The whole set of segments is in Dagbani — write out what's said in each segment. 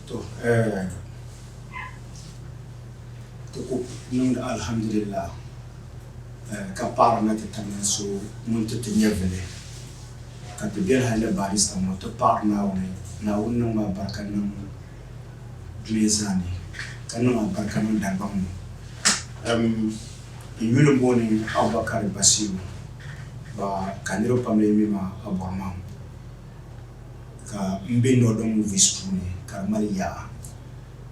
To eh, ti ku niŋdi alhamdulillah eh, ka paɣirina ti tamya so ŋun ti ti nyɛvili, ka ti bɛri hal ni Barrister ŋɔ, ti paɣiri Naawuni, Naawuni niŋm a barika niŋ dunia zaa ni, ka niŋ a barika niŋ Dalibaŋ ni. Em, n yuli m-booni Abubakari Basiru, ba ka niriba pam lee mi ma Abɔrimaŋ. ka m be Northern Movies puuni ka di mali yaɣa.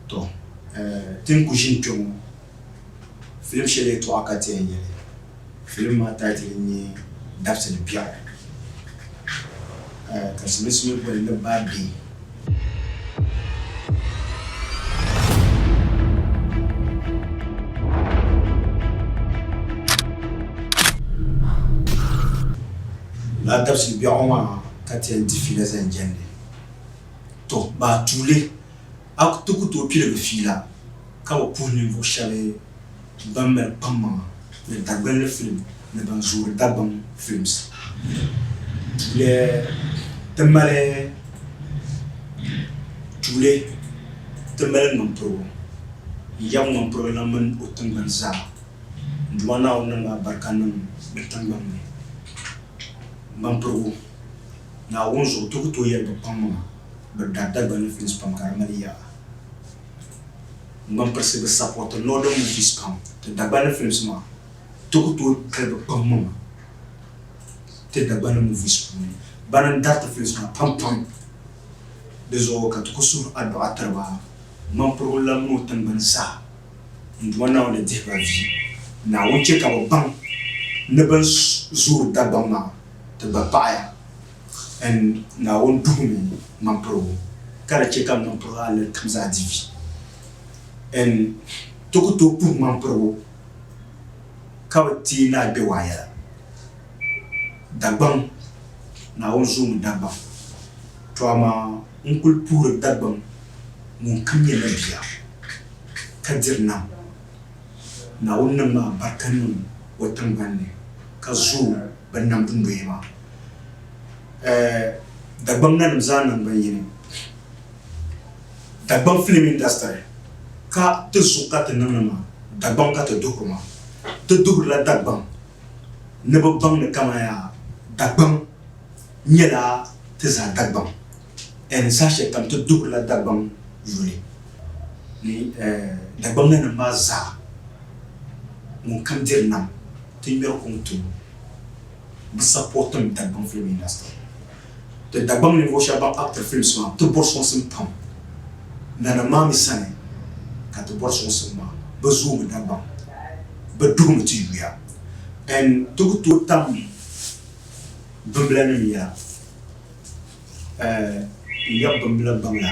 Tɔ! Ti ni ku ʒini kpɛŋɔ, filim shɛli yɛtɔɣa ka ti yɛn nya li. Filim maa title n-nyɛ Dabsi ni Biɛɣu, ka Silimiinsi mi boli li Baa Bee. Lala dabisili biɛɣu maa ka ti yɛn di fiila zaŋ jɛndi. Tɔ! Bɛ a tuuli a ti ku tooi piligi fiila ka bi puhi ninvuɣ shɛb bɛn mali kpaŋmaŋa ni Dagbinli filim ni ban zoori Dagbaŋ Films tuuli ti mali tuuli ti mali ŋmampirigu n-yab ŋmampirigu lan mini o tiŋgbani zaa. N Duuma Naawuni niŋ ma barika niŋ di tiŋgbani ni. M ba m-pirigu, Naawuni zuɣu ti ku tooi yɛli bi kpaŋ maŋa, bi daa Dagbani ni films pam ka di mali yaɣa. N gba m-pirisi bi sapɔriti Northern Movies pam. Ti Dagbani ni films maa, ti ku tooi kali bi kpaŋ maŋa ti Dagbani ni movies puuni. Bana n-dari ti films maa pam pam. Di zuɣu ka ti ku suhi adduɣa tiri ba. M ba m-pirigu lahi mi o tiŋgbani saha. N Duuma Naawuni dihi ba vi. Naawuni chɛ ka bɛ baŋ ni bɛn zuuri Dagbaŋ maa ti gba paɣi ya. N Naawuni duhimi ŋmampirigu, ka di chɛ ka ŋmampirigu alali kam zaa di vi. N ti ku tooi puhi ŋmampirigu ka bɛ teei naai bɛ waa yɛla. Dagbaŋ, Naawuni zuumi Dagbaŋ, to amaa N kul puhiri Dagbam ŋun kam nyɛ la bia ka diri nam. Naawuni niŋ ma alibarika niŋ o tiŋgbani ni ka zooi bɛ nam dunoya maa. Ɛ Dagbam nanim zaa naŋgban yini, Dagbam filim indastiri ka ti zuɣu ka ti niŋdi ma, Dagbam ka ti duhiri ma. Ti duhirila Dagbam ni bɛ baŋ ni kamaya Dagbaŋ nyɛla ti zaa Dagbaŋ and saha shɛli kam ti duhirila Dagbaŋ yuli ni Dagbaŋ nanim maa zaa ŋun kam diri nam ti ŋmɛri kuŋ ti o. Bɛ sapɔrtim Dagbaŋ film industry. Di Dagbaŋ ninvuɣu shɛba ban actiri films maa ti bɔri sɔŋsim pam nanim maa mi sani ka ti bɔri sɔŋsim maa. Bɛ zoomi Dagbaŋ. Bɛ duhimi ti yuya and ti ku tooi tam bimblanim ya eh n yab bimbla gbaŋla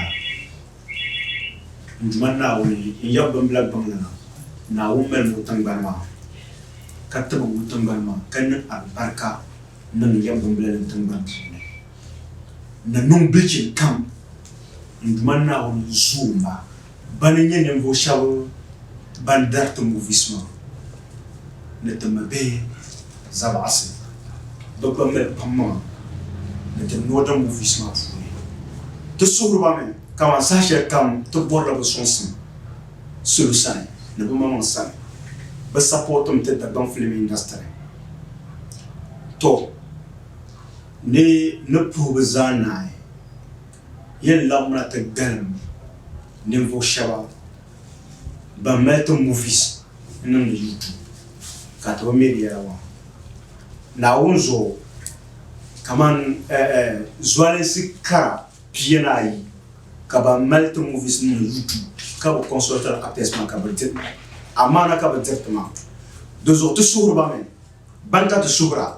n Duuma Naawuni n yab bimbla gbaŋla Naawuni malimi o tiŋgbani maa ka tibigi o tiŋgbani maa ka niŋ alibarika Niŋ ya bimbilinim tiŋgbani puuni, ni niŋ bilichin kam n Duuma Naawuni n zuo m ba ban n nyɛ ninvuɣu shɛb ban dari ti movies maa ni ti mi bihi zabaɣisi. Bɛ gba mali pam maŋa ni ti ni o da movies maa puuni. Ti suhiri ba mi kaman saha shɛli kam ti bɔri la bɛ sɔŋsim. salo sani ni bɛ maŋmaŋ sani bɛ sapɔɔtim ti Dagbaŋ filim indasitiri. Tɔ! Ni ni puhi bɛ zaa naai, yɛn laɣimla ti galim ninvuɣ shɛba ban mali ti movies niŋdi YouTube ka ti bi me bɛ yɛla maa Naawuni zuɣu kaman zualinsi kara. Pia ni ayi ka ban mali ti movies nim ni YouTube ka bi consultiri actors maa ka bi diri amaana ka bi diri ti maa. Di zuɣu ti suhiri ba mi. Bani ka ti suhira?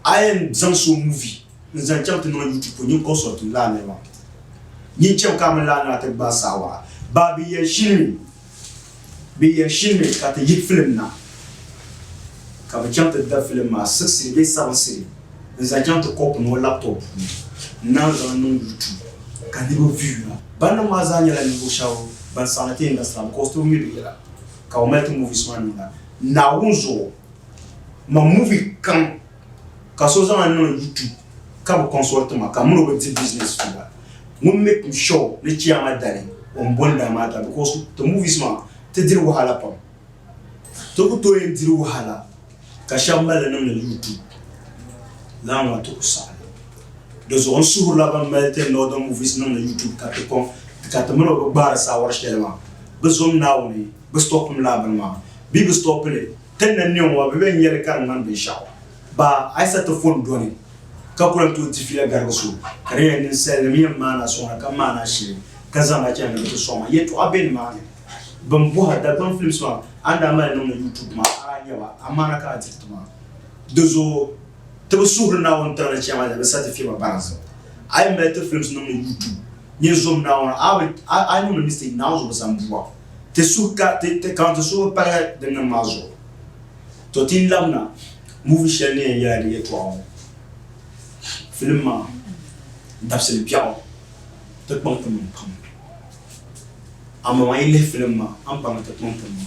A yɛn zaŋ so movie n zaŋ chaŋ ti niŋ YouTube pɔ nyin consult lala niri maa. Nyin cham ka a mini lala nira ti gbaai saha waɣa. Baabiya shili mi. Bɛ yɛli shilimi ka ti yi filim na ka bɛ chaŋ ti da filim maa siɣisiri bee sabiŋsiri n-zaŋ chaŋ ti kɔpu ni o laptop puuni n-naan zaŋ niŋ YouTube ka niriba view na. Baniŋ maa zaa nyɛla ninvuɣ shɛb ban saɣindi ti industry la because ti bi mi bɛ yɛla ka bɛ mali ti movies maa niŋda Naawuni zuɣu. Man movie kam. ka so zaŋ niŋ YouTube ka bi consult ma ka mini o bi di business tuba ŋun make sure ni chiyama dali o ni boli daa maa ta because ti movies maa ti diri wahala pam ti ku tooi yɛn diri wahala ka shɛba mali li niŋdi YouTube lana maa ti ku saɣi di zuɣu n suhirila ban mali ti northern movies niŋdi YouTube ka ti kɔŋ ka ti mini o bi gbaari saawari shɛli maa bi zom Naawuni bi stop mi laa bini maa bee bi stop li Ti ni niŋ o, bebe n-nyɛ li ka di ŋmani binshɛɣu? Ba Aysatu fon dɔni ka ku lan tooi di fiila garigi so, ka di nyɛla ninsalinim yɛn maani a sɔŋda ka maani a shili ka zaŋ ba chaŋ ni bɛ ti sɔŋ a. Yɛltɔɣa be nimaani. Bɛn bɔh a Dagbaŋ Films maa, a ni daa mali niŋdi YouTube maa, a daa nya ba, amaana ka a diri ti maa. Di zuɣu ti bi suhiri Naawuni tiŋli chɛma ni bɛ sa ti fiɛma baŋ zim. A yi mali ti films niŋdi YouTube, nyin zom Naawuni, a a yi niŋdi mistake, Naawuni zuɣu bi sa m-bu a. ti suhu ka ti, ti kaŋ ti suhu palihi din niŋ maa zuɣu. To ti yi labina muvi shɛli ni yɛn yɛla di yɛtɔɣa ŋɔ, filim maa dabisili biɛɣu ti kpaŋ ti maŋ pam. Amaa yi lihi filim maa, a ni baŋ ni ti kpaŋ ti maŋ.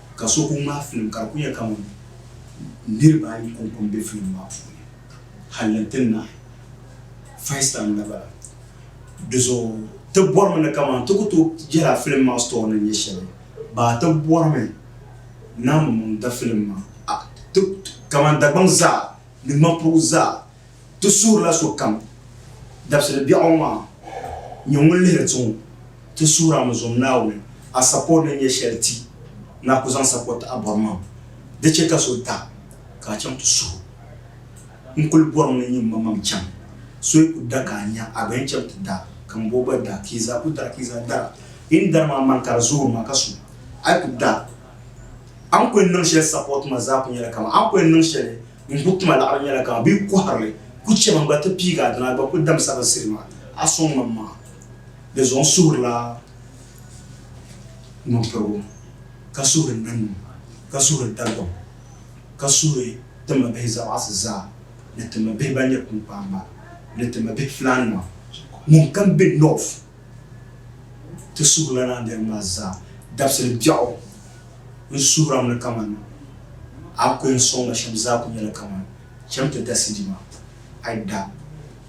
ka so ku ŋmaai filim ka di ku nyɛ kamani niriba ayi kɔŋko m-be filim maa puuni hal ni ti nahi first time niriba la. Di zuɣu ti bɔrimi ni kamani ti ku tooi yɛla filim maa story ni nyɛ shɛli baa ti bɔrimi Naawuni mini di filim maa kamani Dagbaŋ zaa ni Ŋmanpuɣu zaa. Ti suurila sokam dabisili biɛɣu maa nyɛ ŋun lihiri ti ŋɔ. Ti suurami zom Naawuni a sako ni nyɛ shɛli ti ni a ku zaŋ sako ti a bɔrimaŋ. Di chɛ ka so da ka a chaŋ ti suhu. N kul bɔrimi ni n nyin mamaŋ chaŋ. So yi ku da ka a nya, a gba yɛn chaŋ ti da, ka m bo gba da, ka yi zaa ku dara ka yi zaa dara. Yi ni dari maa man ka di zooi ma ka su, a yi ku da, a ni ku yɛn niŋ shɛli sako ti ma zaa ku nyɛla kaman a ni ku yɛn niŋ shɛli. N bo tuma laɣiri nyɛla ka bɛ yi kɔhiri li, ku chɛ ma gba ti piigi a dina a gba ku dam sabinsiri maa. A sɔŋ ma m-ma di zuɣu n suhirila ŋmampirigu, ka suhiri nannu, ka suhiri Dagbaŋ, ka suhiri ti ma bihi zabaɣisi zaa, ni ti ma bihi ban nyɛ kpiŋkpaamba, ni ti ma bihi filaannima, ŋun kam be North. Ti suhu la daa gari ma zaa. Dabisili biɛɣu n suhira mi ni kaman a ku yɛn sɔŋ ma shɛm zaa ku nyɛla kaman cham ti da CD maa. Ai da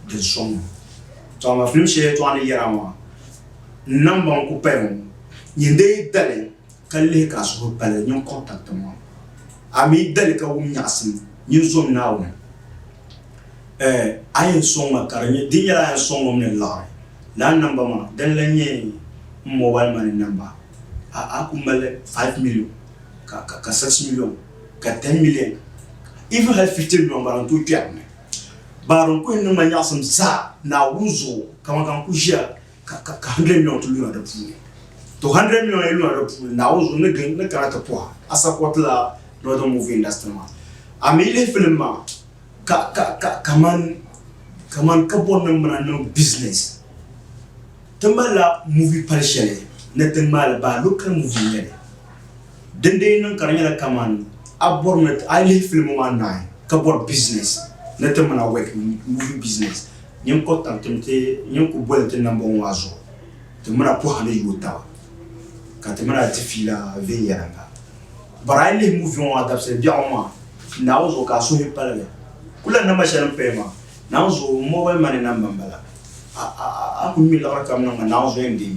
din sɔŋ ma. Tɔ amaa filim shɛli yɛtɔɣa ni yɛra maa n nambaŋ ku paya ŋɔ. Nyin dee dali. ka lihi ka a suhu pali ninkuɣ tabita ŋɔ. A mi dali ka wum nyaɣisim mini zom Naawuni. Ɛ! A yɛn sɔŋ ma ka di nyɛ, di nyɛla a yɛn sɔŋ ŋɔmini laɣiri lana namba maa, dini lan nyɛ m mɔbaliman ni namba. A, a ku mali five miliyon, ka, ka, ka six miliyon, ka ten miliyon, even hali fifty miliyon gba, di ni tooi kpɛri m ni. Baari n-kuhi niŋ ma nyaɣisim zaa Naawuni zuɣu, kaman ka n ku ʒiya ka ka ka hundred million ti luna di puuni to hundred million yi luna di puuni naawuni zuɣu ni gin ni kana ti pɔha a support la northern movie industry maa a mi lihi film maa ka ka ka kaman kaman ka bɔri ni mana niŋ business ti malila movie pali shɛli ni ti ŋmaali baa local movie nyɛli din dee niŋ ka di nyɛla kaman a bɔri ni a lihi film maa naai ka bɔri business ni ti mana work movie business Nyin kɔr tam tim ti nyin ku boli ti nambɔŋ maa zuɣu, ti mina pɔha ni yooi taba, ka ti mina ti fiila viɛnyɛliŋga. Bɔr a yi lihi muviŋ ŋɔ dabisili biɛɣu maa Naawuni zuɣu ka a suhi paligi. Kulana namba shɛli n paya maa, Naawuni zuɣu mobile money namba m-bala. A ku ŋme liɣiri kam niŋ ma Naawuni zuɣu n-deei.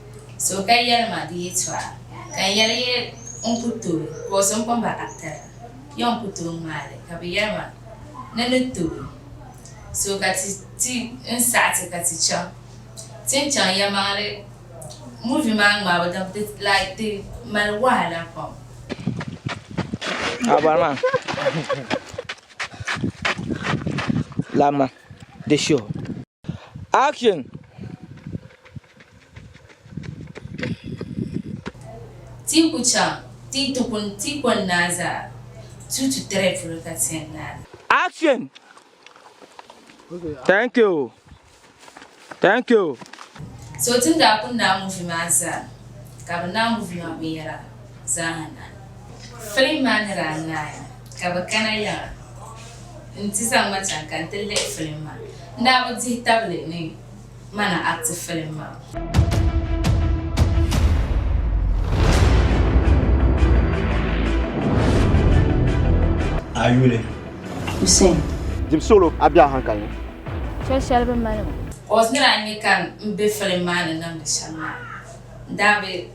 So ka yɛli ma di yɛtɔɣa, ka n yɛli ya n ku tooi, ka o so n kpamba ka tiri ya n ku tooi ŋmaai li, ka bɛ yɛli ma, Ni ni tooi so ka ti ti n saɣi ti ka ti chaŋ ti ni chaŋ yɛlimaŋli movie maa ŋmaabu din di like di mali wahala pam. Action! Ti ku chaŋ ti ti kun ti kɔni naa zaa tu tu tiri polo ka tiɛn naa. Action! Thank you! Thank you! So ti ni daa kun naa movie maa zaa ka bi niŋ movie maa binyɛra. zaa na. Filim maa ni daa naai ka bɛ kana yaɣa nti zaŋ ma chaŋ ka nti lihi filim maa, n-daa bi dihi tabili ni ma ni acti filim maa. A yuli. Hussein. Dibu solo, a be a hankali ni. Chɛ shɛli bɛ mali ma. Cos ni daa nyɛ ka m be filim maa ni niŋdi shɛm maa, n-daa bi.